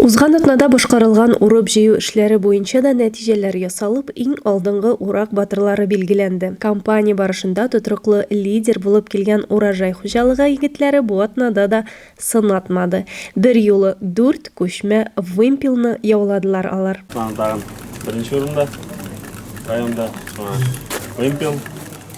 Узган атнада башкарылган урып-җыю эшләре буенча да нәтиҗәләр ясалып, иң алдынгы урак батырлары билгеләнде. Кампания барышында тотрыклы лидер булып килгән Урожай хуҗалыгы егетләре бу атнада да сынатмады. Берьюлы дүрт күчмә вымпелны яуладылар алар. Тагын беренче урында районда, шуңа вымпел.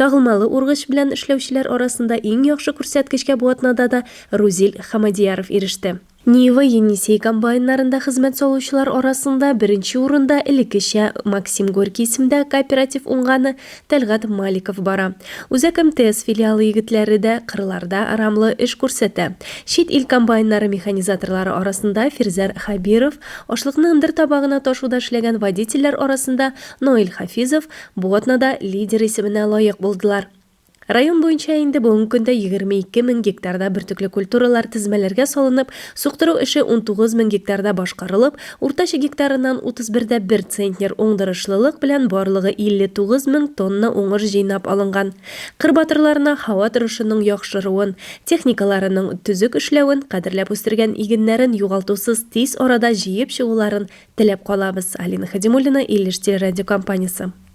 Тагылмалы ургыч белән эшләүчеләр арасында иң яхшы күрсәткечкә бу атнада да Рузил Хамадияров иреште. Нива, Енисей комбайннарында хезмәт салучылар арасында беренче урында элеккечә Максим Горький исемендәге кооператив уңганы Тәлгать Маликов бара. Үзәк МТС филиалы егетләре дә кырларда рамлы эш күрсәтә. Чит ил комбайннары механизаторлары арасында Фирзәр Хәбиров, ашлыкны ындыр табагына ташуда эшләгән водительләр арасында Наил Хафизов, Бу атнада лидер исеменә лаек булдылар. Район буенча инде бүгенге көндә 22 мең гектарда бөртекле культуралар тезмәләргә салынып, суктыру эше 19 мең гектарда башкарылып, уртача гектарыннан 31 дә 1 центнер уңдырышлылык белән барлыгы 59 мең тонна уңыш җыйнап алынган. Кыр батырларына һава торышының яхшыруын, техникаларының төзек эшләвен, кадерләп үстергән игеннәрен югалтусыз тиз арада җыеп чыгуларын теләп калабыз, Алина Хәдимуллина, Илеш телерадиокомпаниясе.